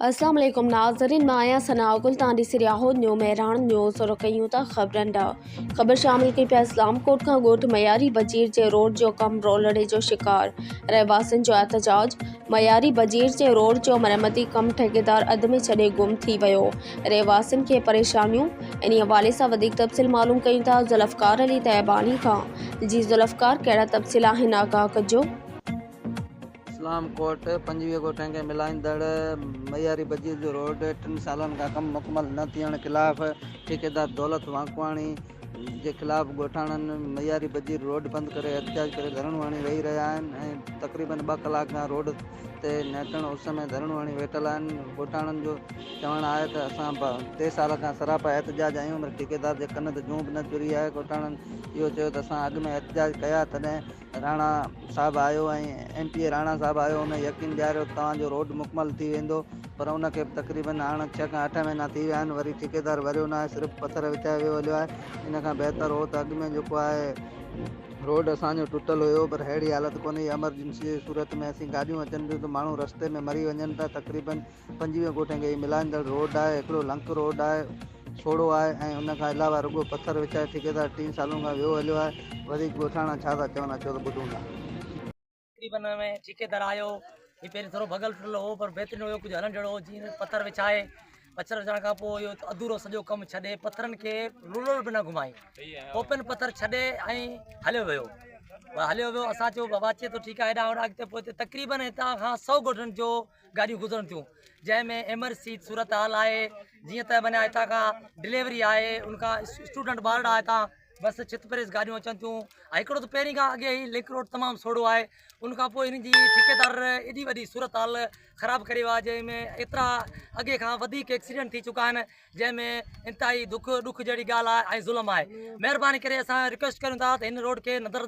السلام عليڪم ناظرين مان آهيان ثناء گل توهان ڏسي رهيا آهيو نيو مهراڻ نيوز شروع ڪيون ٿا خبرن ڏانهن خبر شامل ڪئي پيا اسلام ڪوٽ کان ڳوٺ مياري بجير جي روڊ جو ڪم رولڙي جو شڪار رهواسين جو احتجاج مياري بجير جي روڊ جو مرمتي ڪم ٺيڪيدار اڌ ۾ ڇڏي گم ٿي ويو رهواسين کي پريشانيون انهي حوالي سان وڌيڪ تفصيل معلوم ڪيون ٿا ذوالفقار علي طيباڻي کان جي ذوالفقار ڪهڙا تفصيل آهن آگاهه ڪجو. اسلام ڪوٽ، پنجويهه ڳوٺن کي ملائيندڙ معياري بجيء جو روڊ ٽن سالن کان ڪم مڪمل نه ٿيڻ خلاف ٺيڪيدار دولت وانڪواڻي جي خلاف ڳوٺاڻن معياري بجيء روڊ بند ڪري احتجاج ڪري ڌرڻو هڻي ويهي رهيا آهن ۽ تقريبن ٻه ڪلاڪ کان روڊ تي نهٽڻ اس ۾ ڌرڻو هڻي ويٺل آهن ڳوٺاڻن جو چوڻ آهي ته اسان ٽي سال کان سراپا احتجاج آهيون پر ٺيڪيدار جي ڪن تي جون به نه چري آهي ڳوٺاڻن اهو چيو ته اسان اڳ ۾ احتجاج ڪيا تڏهن راڻا صاحب آيو ۽ M P A Rana sahib آيو هن يقين ڏياريو ته توهان جو روڊ مڪمل ٿي ويندو پر ان کي به تقريبن هاڻ ڇهه کان اٺ مهينا ٿي ويا آهن وري ٺيڪيدار ڀريو ناهي صرف پٿر وڇائي ويو هليو آهي ان کان بهتر هو ته اڳ ۾ جيڪو آهي روڊ اسان جو ٽٽل هيو پر ههڙي حالت ڪونهي ايمرجنسي جي صورت ۾ اسين گاڏيون اچن ٿيون ته ماڻهو رستي ۾ مري وڃن ٿا تقريبن پنجويهه ڳوٺن کي ملائيندڙ روڊ آهي، هڪڙو لنڪ روڊ آهي، سوڙهو آهي ۽ ان کان علاوه رڳو پٿر وڇائي ٺيڪيدار ٽي سالن کان ويهو هليو آهي، وڌيڪ ڳوٺاڻا ڇا ٿا چون اچو ته ٻڌون ٿا. تقريبن ۾ ٺيڪيدار آيو، هي پهرين ٿورو ڀڳل ٽٽل هو پر بهترين هيو ڪجهه هلڻ جهڙو هو جيئن پٿر وڇائي، پٿر وڇائڻ کان پوء اهو اڌورو سڄو ڪم ڇڏي پٿرن کي رولر به نه گهمائي ٽوپين پٿر ڇڏي ۽ هليو ويو هليو ويو اسان چيو بابا اچي ٿو ٺيڪ آهي هيڏانهن هوڏانهن اڳتي پوئتي تقريبن هتان کان سؤ ڳوٺن جو گاڏيون گذرن ٿيون جنهن ۾ ايمرسيت صورتحال آهي جيئن ته معنيٰ هتان کان ڊليوري آهي ان کان اسٽوڊنٽ ٻارڙا هتان بس ڇت پريس گاڏيون اچن ٿيون ۽ هڪڙو ته پهرين کان اڳي هي لنڪ روڊ تمام سوڙهو آهي ان کان پوء هن جي ٺيڪيدار ايڏي وڏي صورتحال خراب ڪري ويو آهي جنهن ۾ ايترا اڳي کان وڌيڪ ايڪسيڊنٽ ٿي چڪا آهن جنهن ۾ انتهائي دک ڏک جهڙي ڳالهه آهي ۽ ظلم آهي مهرباني ڪري اسان رڪويسٽ ڪريون ٿا ته هن روڊ کي نظر